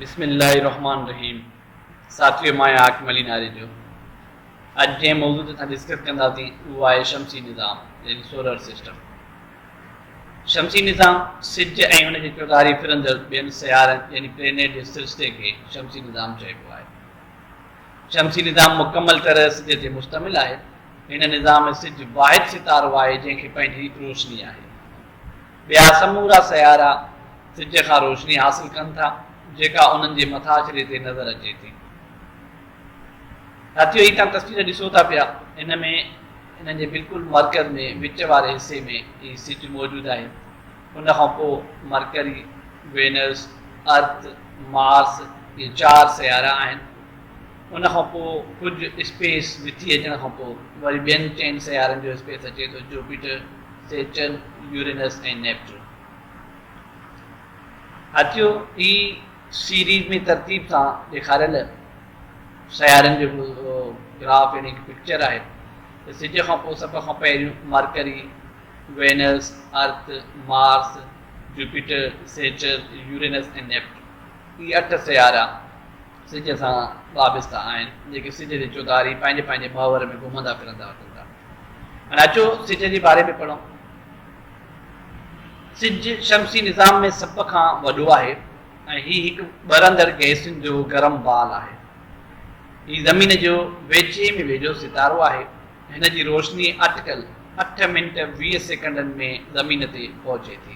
بسم الله الرحمٰن الرحيم ساٿيو مان آهيان حاڪم علي ناري جو اڄ جنهن موضوع تي اسان ڊسڪس ڪنداسين اهو آهي شمسي نظام يعني سولر سسٽم شمسي نظام سج ۽ ان جي چوڌاري ڦرندڙ ٻين سيارن يعني پلينيٽ جي سلسلي کي شمسي نظام چئبو آهي شمسي نظام مڪمل طرح سج تي مشتمل آهي هن نظام ۾ سج واحد ستارو آهي جنهن کي پنهنجي روشني آهي ٻيا سمورا سيارا سج کان روشني حاصل ڪن ٿا، جيڪا انهن جي مٿاڇري تي نظر اچي ٿي. ساٿيو هي تان تصوير ڏسو ٿا پيا، ان ۾ انهن جي بلڪل مرڪز ۾ وچ واري حصي ۾ هي سج موجود آهي. ان کان پوء مرڪري، وينس، ارٿ، مارس، اهي چار سيارا آهن. ان کان پوء ڪجهه اسپيس وٿي اچڻ کان پوء وري ٻين چئن سيارن جو اسپيس اچي ٿو، جوپيٽر، سيٽرن، يورينس ۽ نيپچون. هاٿيو هي سيريز ۾ ترتيب سان ڏيکاريل سيارن جو گراف يعني هڪ پڪچر آهي ته سج کان پوء سڀ کان پهريون Mercury, Venus, Earth, Mars, Jupiter, Saturn, Uranus ۽ Neptune هي اٺ سيارا سج سان وابسته آهن، جيڪي سج جي چوڌاري پنهنجي پنهنجي محور ۾ گهمندا ڦرندا اچن ٿا. هاڻي اچو سج جي باري ۾ پڙهون. سج شمسي نظام ۾ سڀ کان وڏو آهي ۽ هي هڪ ٻرندڙ گئسن جو گرم بال آهي. هي زمين جو ويجهي ۾ ويجهو ستارو آهي. هن جي روشني اٽڪل اٺ منٽ ويهه سيڪنڊن ۾ زمين تي پهچي ٿي.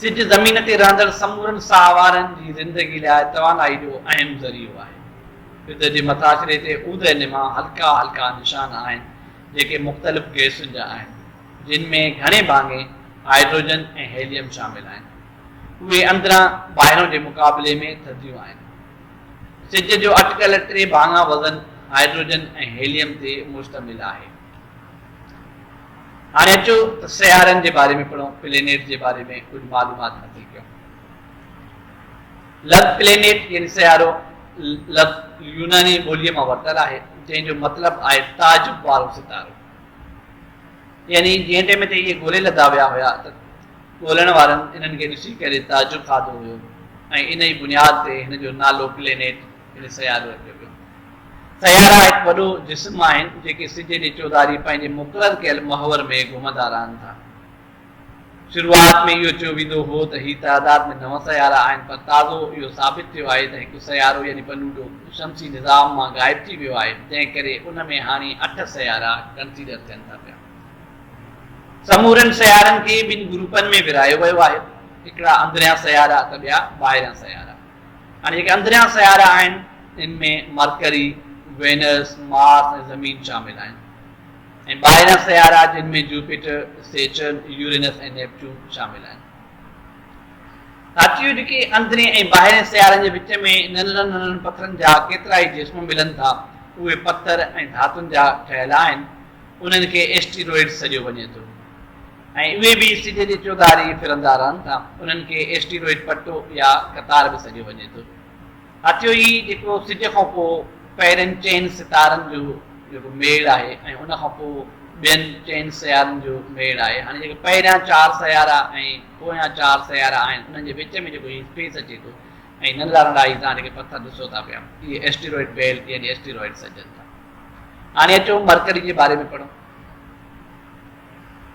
سج زمين تي رهندڙ سمورن ساهه وارن جي زندگي لاء توانائي جو اهم ذريعو آهي. سج جي مٿاڇري تي اوڌي نما هلڪا هلڪا نشان آهن، جيڪي مختلف گئسن جا آهن، جن ۾ گهڻي ڀاڱي هائڊروجن ۽ هيليم شامل آهن. اهي اندران ٻاهران جي مقابلي ۾ ٿڌيون آهن. سج جو اٽڪل ٽي ڀاڱا وزن هائڊروجن ۽ هيليم تي مشتمل آهي. هاڻي اچو ته سيارن جي باري ۾ پڙهون، پلينيٽ جي باري ۾ ڪجهه معلومات حاصل ڪيون. لفظ پلينيٽ يعني سيارو لفظ يوناني ٻوليء مان ورتل آهي، جنهن جو مطلب آهي تعجب وارو ستارو. يعني جنهن ٽيم تي اهي ڳولي لڌا ويا هيا ته ڳولڻ وارن انهن کي ڏسي ڪري تعجب کاڌو هيو ۽ ان ئي بنياد تي هن جو نالو پلينيٽ هن سيارو رکيو ويو. سيارا هڪ وڏو جسم آهن، جيڪي سج جي چوڌاري پنهنجي مقرر ڪيل محور ۾ گهمندا رهن ٿا. شروعات ۾ اهو چيو ويندو هو ته هي تعداد ۾ نو سيارا آهن، پر تازو اهو ثابت ٿيو آهي ته هڪ سيارو يعني پلوٽو شمسي نظام مان غائب ٿي ويو آهي، جنهن ڪري ان ۾ هاڻي اٺ سيارا ڪنسيڊر ٿين ٿا پيا. سمورن سيارن کي ٻن گروپن ۾ ورهايو ويو آهي، هڪڙا اندريان سيارا ته ٻيا ٻاهريان سيارا. هاڻي جيڪي اندريان سيارا آهن ان ۾ مرڪري، وينس، مارس ۽ زمين شامل آهن ۽ ٻاهريان سيارا جن ۾ جوپيٽر، سيٽرن، يورينس ۽ نيپچون شامل آهن. ساٿيو جيڪي اندرين ۽ ٻاهرين سيارن جي وچ ۾ ننڍڙن ننڍڙن پٿرن جا ڪيترائي جسم ملن ٿا اهي پٿر ۽ ڌاتن جا ٺهيل آهن انهن کي ايسٽيروئڊز سڏيو وڃي ٿو. ۽ اهي به سج جي چوڌاري ڦرندا رهن ٿا. انهن کي ايسٽيروئڊ پٽو يا قطار به سڏيو وڃي ٿو. هٿيو ئي جيڪو سج کان پوء پهرين چئن ستارن جو جيڪو ميڙ آهي ۽ ان کان پوء ٻين چئن سيارن جو ميڙ آهي. هاڻي جيڪي پهريان چار سيارا ۽ پويان چار سيارا آهن انهن جي وچ ۾ جيڪو هي اسپيس اچي ٿو ۽ ننڍڙا ننڍڙا هي توهان جيڪي پٿر ڏسو ٿا پيا اهي ايسٽيروئڊ بيلٽ يعني ايسٽيروئڊ سڏجن ٿا. هاڻي اچو مرڪري جي باري ۾ پڙهون.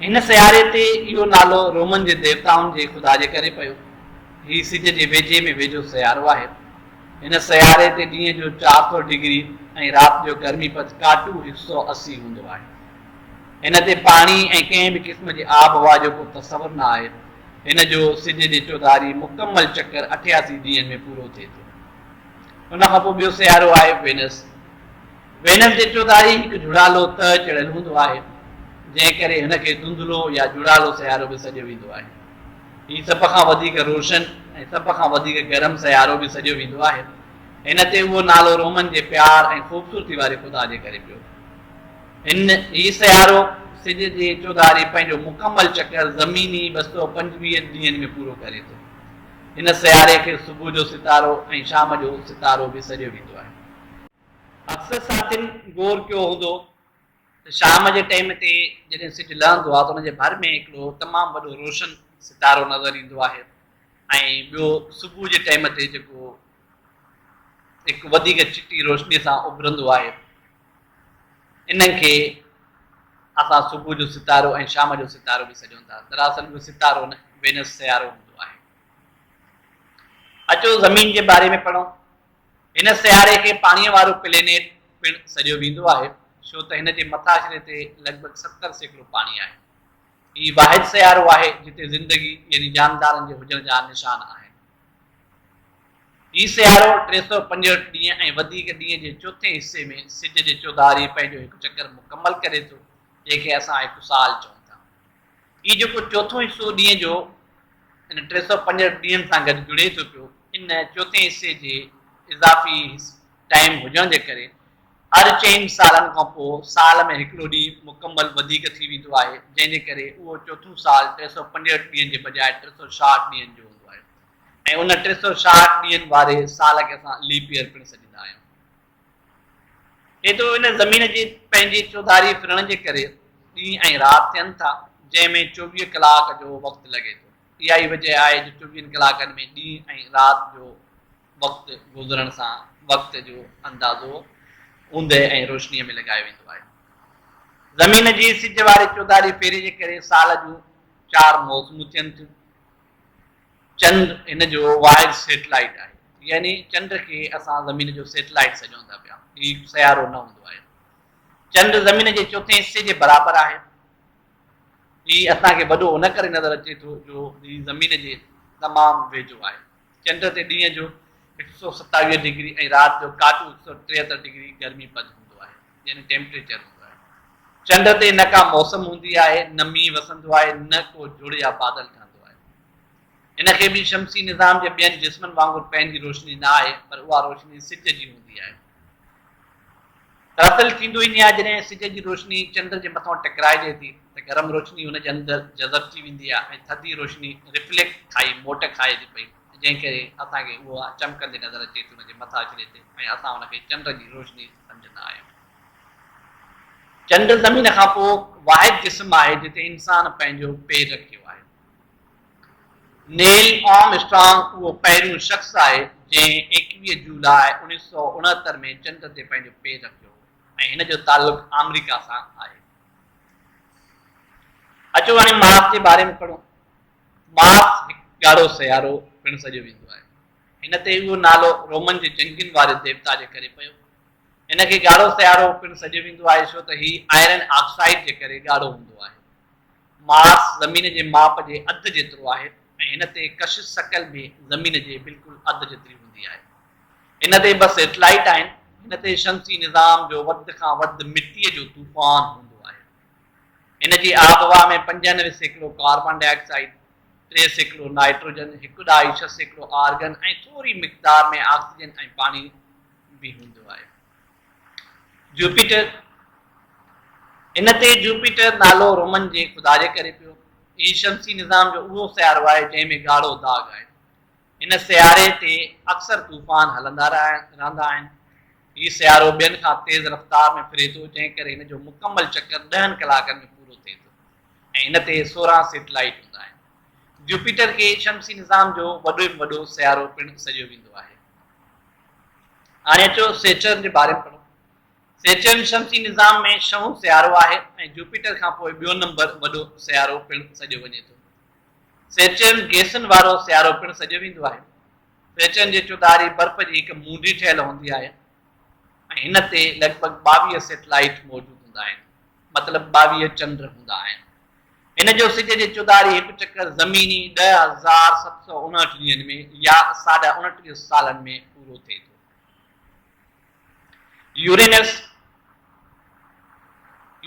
هن سياري تي اهو نالو رومن جي ديوتائن جي خدا جي ڪري پيو. هي سج جي ويجهي ۾ ويجهو سيارو آهي. هن سياري تي ڏينهن جو چار سؤ ڊگري ۽ رات جو گرمي پد ڪاٽو هڪ سؤ اسي هوندو آهي. هن تي پاڻي ۽ ڪنهن به قسم جي آب هوا جو ڪو تصور نه آهي. هن جو سج جي چوڌاري مڪمل چڪر اٺياسي ڏينهن ۾ پورو ٿئي ٿو. ان کان پوء ٻيو سيارو آهي وينس. وينس جي چوڌاري هڪ جهڙالو تهه چڙهيل هوندو آهي، جنهن ڪري هن کي ڌنڌلو يا جهڙالو سيارو به سڏيو ويندو آهي. هي سڀ کان وڌيڪ روشن ۽ سڀ کان وڌيڪ گرم سيارو به سڏيو ويندو آهي. هن تي اهو نالو رومن جي پيار ۽ خوبصورتي واري خدا جي ڪري پيو. هن هي سيارو سج جي چوڌاري پنهنجو مڪمل چڪر زميني ٻه سؤ پنجويهه ڏينهن ۾ پورو ڪري ٿو. هن سياري کي صبح جو ستارو ۽ شام جو ستارو به سڏيو ويندو آهي. اڪثر ساٿين غور ڪيو هوندو ته شام جي ٽيم تي جڏهن سج لهندو آهي ته ان جي ڀر ۾ هڪڙو تمام وڏو روشن ستارو نظر ايندو آهي ۽ ٻيو صبح جي ٽيم تي جيڪو هڪ وڌيڪ چٽي روشني سان اڀرندو آهي انهن کي اسان صبح جو ستارو ۽ شام جو ستارو به سڏيون ٿا دراصل اهو ستارو نه وينس سيارو هوندو آهي اچو زمين جي باري ۾ پڙهون هن سياري کي پاڻيء وارو پلينيٽ پڻ سڏيو ويندو آهي، ڇو ته هن جي مٿاڇري تي لڳ ڀڳ ستر سيڪڙو پاڻي آهي. هي واحد سيارو آهي، جتي زندگي يعني جاندارن جي هجڻ جا نشان آهن. هي سيارو ٽي سؤ پنجهٺ ڏينهن ۽ وڌيڪ ڏينهن جي چوٿين حصي ۾ سج جي چوڌاري پنهنجو هڪ چڪر مڪمل ڪري ٿو، جنهن کي اسان هڪ سال چئون ٿا. هي جيڪو چوٿون حصو ڏينهن جو ان ٽي سؤ پنجهٺ ڏينهن سان گڏ جڙي ٿو پيو، ان چوٿين حصي جي اضافي ٽائيم هجڻ جي ڪري هر چئن سالن کان پوء سال ۾ هڪڙو ڏينهن مڪمل وڌيڪ ٿي ويندو آهي، جنهن جي ڪري اهو چوٿون سال ٽي سؤ پنجهٺ ڏينهن جي بجاء ٽي سؤ ڇاهٺ ڏينهن جو هوندو آهي ۽ ان ٽي سؤ ڇاهٺ ڏينهن واري سال کي اسان ليپ ايئر پڻ سڏيندا آهيون. ايترو ان زمين جي پنهنجي چوڌاري ڦرڻ جي ڪري ڏينهن ۽ رات ٿين ٿا، جنهن ۾ چوويهه ڪلاڪ جو وقت لڳي ٿو. اها ئي وجه آهي جو چوويهن ڪلاڪن ۾ ڏينهن ۽ رات جو وقت گذرڻ سان وقت جو اندازو اوندهه ۽ روشنيء ۾ لڳايو ويندو آهي. زمين جي سج واري چوڌاري ڦيري جي ڪري سال جون چار موسمون ٿين ٿيون. چنڊ هن جو واحد سيٽلائيٽ آهي. يعني چنڊ کي اسان زمين جو سيٽلائيٽ سڏيون ٿا پيا. هي سيارو نه هوندو آهي. چنڊ زمين جي چوٿين حصي جي برابر آهي. هي اسان کي وڏو ان ڪري نظر اچي ٿو جو هي زمين جي تمام ويجهو آهي. چنڊ تي ڏينهن جو هڪ سؤ ستاويهه ڊگري ۽ رات جو ڪاٽو هڪ سؤ ٽيهتر ڊگري گرمي پد هوندو آهي. يعني ٽيمپريچر هوندو آهي. چنڊ تي نه ڪا موسم هوندي آهي، نه مينهن وسندو آهي، نه ڪو جڙ يا بادل ٺهندو آهي. هن کي به شمسي نظام جي ٻين جسمن وانگر پنهنجي روشني نه آهي، پر اها روشني سج جي هوندي آهي. ترتل ٿيندو ئي نيا جڏهن سج جي روشني چنڊ جي مٿان ٽڪرائجي ٿي ته گرم روشني هن جي اندر جذب ٿي ويندي آهي ۽ ٿڌي روشني رفليڪٽ کائي موٽ کائي ٿي پئي جنهن ڪري اسان کي اها چمڪندي نظر اچي ٿي ان جي مٿاڇري تي ۽ اسان ان کي چنڊ جي روشني سمجهه نه آيو. چنڊ زمين کان پوء واحد جسم آهي جتي انسان پنهنجو پير رکيو آهي. نيل آرم اسٽرانگ اهو پهريون شخص آهي جنهن ايڪويهه جولاء اوڻيهه سؤ اڻهتر ۾ چنڊ تي پنهنجو پير رکيو ۽ هن جو تعلق آمريڪا سان آهي. اچو هاڻي مارس جي باري ۾ پڙهون. مارس هڪ ڳاڙهو سيارو پڻ سڏيو ويندو آهي. هن تي اهو نالو رومن جي جنگين واري ديوتا جي ڪري پيو. هن کي ڳاڙهو سيارو پڻ سڏيو ويندو آهي ڇو ته هي آئرن آڪسائيڊ جي ڪري ڳاڙهو هوندو آهي. مارس زمين جي ماپ جي اڌ جيترو آهي ۽ هن تي ڪشش شڪل به زمين جي بلڪل اڌ جيتري هوندي آهي. هن تي ٻه سيٽلائيٽ آهن. هن تي شمسي نظام جو وڌ کان وڌ مٽيء جو طوفان هوندو آهي. ان جي آبهوا ۾ پنجانوي سيڪڙو ڪاربان ڊاء آڪسائيڊ، ٽي سيڪڙو نائٽروجن، هڪ ڏهائي ڇهه سيڪڙو آرگن ۽ ٿوري مقدار ۾ آڪسيجن ۽ پاڻي به هوندو آهي. جوپيٽر، ان تي جوپيٽر نالو رومن جي خدا جي ڪري پيو. هي شمسي نظام جو اهو سيارو آهي جنهن ۾ ڳاڙهو داغ آهي. هن سياري تي اڪثر طوفان هلندا رهندا آهن. هي سيارو ٻين کان تيز رفتار ۾ ڦري ٿو، جنهن ڪري هن جو مڪمل چڪر ڏهن ڪلاڪن ۾ پورو ٿئي ٿو ۽ هن تي سورهن سيٽلائيٽ هوندا آهن. جوپيٽر کي شمسي نظام جو وڏي ۾ وڏو سيارو پڻ سڏيو ويندو آهي. هاڻي اچو سيٽرن جي باري ۾ پڙهون. سيٽرن شمسي نظام ۾ ڇهون سيارو آهي ۽ جوپيٽر کان پوء ٻيو نمبر وڏو سيارو پڻ سڏيو وڃي ٿو. سيچين گيسن وارو سيارو پڻ سڏيو ويندو آهي. سيچين جي چوڌاري برف جي هڪ مونڊي ٺهيل هوندي آهي ۽ هن تي لڳ ڀڳ ٻاويهه سيٽلائيٽ موجود هوندا آهن، مطلب ٻاويهه چنڊ هوندا آهن. هن جو سج جي چوڌاري هڪ چڪر زميني ڏهه هزار ست سؤ اڻهٺ ڏينهن ۾ يا ساڍا اڻٽيهه سالن ۾ پورو ٿئي ٿو. يورينس،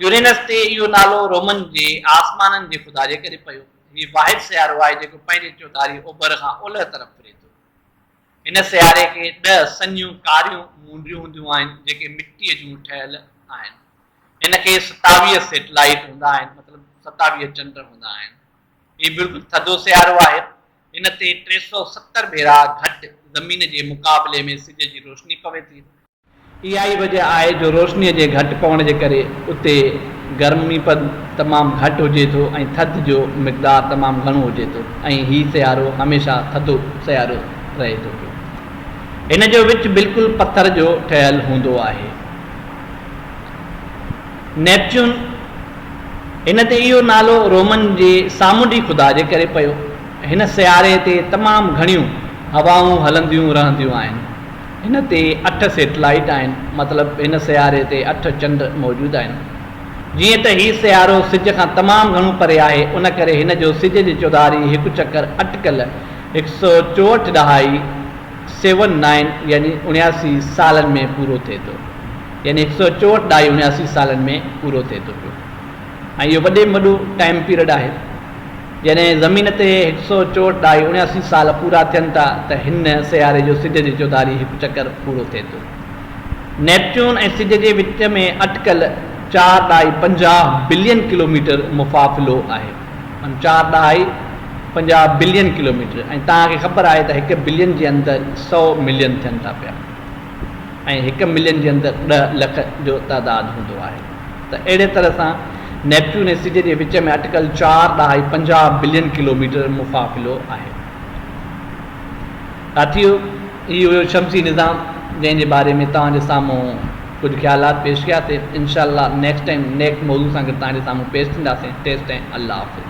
Uranus، تي اهو نالو رومن جي آسمانن جي خدا جي ڪري پيو. هي واحد سيارو آهي جيڪو پنهنجي چوڌاري اوڀر کان اولهه طرف ڦري ٿو. هن سياري کي ڏهه سڃيون ڪاريون مونڊيون هونديون آهن جيڪي مٽيء جون ٺهيل آهن. هن کي ستاويهه سيٽلائيٽ هوندا آهن مطلب ستاويهه چنڊ هوندا آهن. هي بلڪل ٿڌو سيارو آهي هن تي ٽي سؤ ستر ڀيرا گهٽ زمين جي مقابلي ۾ سج جي روشني پوي ٿي. اها ئي وجهه آهي جو روشنيء جي گهٽ پوڻ جي ڪري اتي گرميپد تمام گهٽ هجي ٿو ۽ ٿڌ جو مقدار تمام گهڻو هجي ٿو ۽ هي سيارو هميشه ٿڌو سيارو رهي ٿو پيو. هن جو وچ بلڪل پٿر جو ٺهيل هوندو آهي. نيپچون، هن تي اهو نالو رومن جي سامونڊي خدا جي ڪري پيو. هن سياري تي تمام گهڻيون هوائون هلنديون رهنديون آهن. هن تي اٺ سيٽلائيٽ آهن، مطلب هن سياري تي اٺ چنڊ موجود آهن. جيئن ته هي سيارو سج کان تمام گهڻو پري آهي، ان ڪري هن جو سج جي چوڌاري هڪ چڪر اٽڪل هڪ سؤ چوهٺ ڏهائي، Seven Nine، يعني اڻياسي سالن ۾ پورو ٿئي ٿو. يعني هڪ سؤ چوهٺ ڏهائي اڻياسي سالن ۾ پورو ٿئي ٿو پيو ۽ اهو وڏي ۾ وڏو ٽائيم پيريڊ آهي. جڏهن زمين تي هڪ سؤ چوهٺ ڏهائي اڻياسي سال پورا ٿين ٿا ته هن سياري جو سج جي چوڌاري هڪ چڪر پورو ٿئي ٿو. نيپچون ۽ سج جي وچ ۾ اٽڪل چار ڏهائي پنجاهه بلين ڪلوميٽر مفافلو آهي. معنيٰ چار ڏهائي پنجاهه بلين ڪلوميٽر ۽ توهان کي خبر آهي ته هڪ بلين جي اندر سؤ ملين ٿين ٿا پيا. ۽ هڪ ملين جي اندر ڏهه لک جو تعداد هوندو آهي ته اهڙي طرح سان نيپچون ۽ سج جي وچ ۾ اٽڪل چار ڏهائي پنجاهه بلين ڪلوميٽر مفاصلو آهي. ساٿيو هي هيو شمسي نظام جنهن جي باري ۾ توهان جي سامهون ڪجهه خيالات پيش ڪيا سي انشاء الله نيڪسٽ ٽائيم نيڪ موضوع سان گڏ توهان جي سامهون پيش ٿينداسين تيستائين الله حافظ.